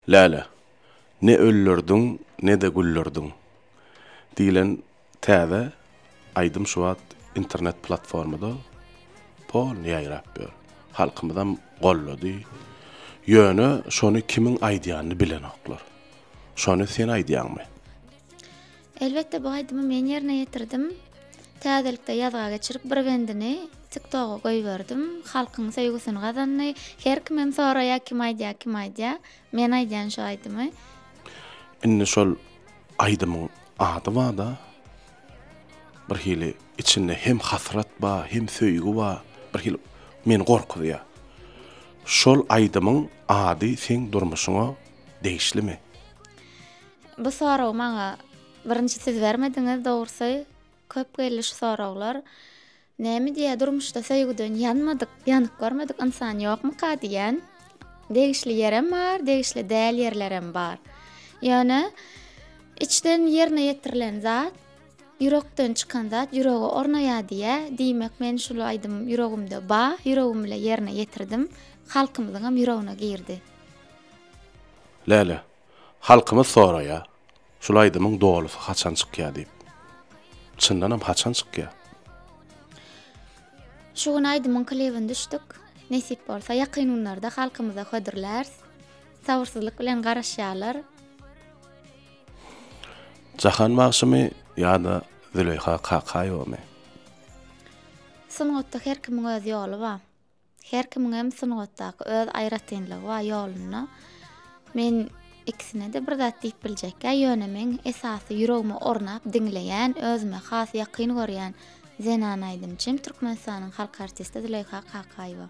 Läle, ne öllürdiň, ne-de güllürdiň diýlen täze aýdym şu wagt internet platformada polny ýaýrap ýör. Halkymyzam gollady. Ýöne şony kimiň aýdýanyny bilenoklar. Şony sen aýdýaňmy? Elbetde bu aýdymy men ýerine ýetirdim. Täzelikde ýazga geçirip bir bendini tik toga goýberdim. Halkyň söýgüsini gazandy. Her kim hem soraýar kim aýdýar kim aýdýar. Men aýdýan şu aýdymy. Indi şol aýdymyň ady bada bir hili içinde hem hasrat ba hem söýgi ba bir hili meni gorkuzýa. Şol aýdymyň ady seň durmuşyňa degişlimi? Bu soragy maňa birinji siz bermediňiz dogrusy köp geldi şu soraglar. Näme diýýär durmuşda söýgüden ýanmadyk, ýanyk görmedik ynsan ýokmyka diýýän. Degişli ýerem bar, degişli däl ýerlerem bar. Ýöne içden ýerine ýetirilen zat, ýürekden çykan zat ýürege ornaýar diýýär. Diýmek men şul aýdym ýüregimde bar, ýüregim bilen ýerine ýetirdim. Halkymyzyňam ýüregine girdi. Läle, Halkymyz soraýa, şul aýdymyň dolusy haçan çykýa diýip. Çyndanam haçan çykýa? Şu gün aýdymyň klibini düşdük. Nesip bolsa ýakyn günlerde halkymyza hödürlärs. Sabyrsyzlyk bilen garaşýalar. Jahan bagşymy ýa-da Züleýha Kakaýewamy? Sungatda her kimiň öz ýoly ba. Her kimiňem sungatdaky öz aýratynlygy bar ýolunda. Men ikisine-de bir zat diýip biljekkä, ýöne meň esasy ýüregime ornap diňleýän, özüme has ýakyn görýän zenan aýdymçym Türkmenistanyň halk artisti Züleýha Kakaýewa.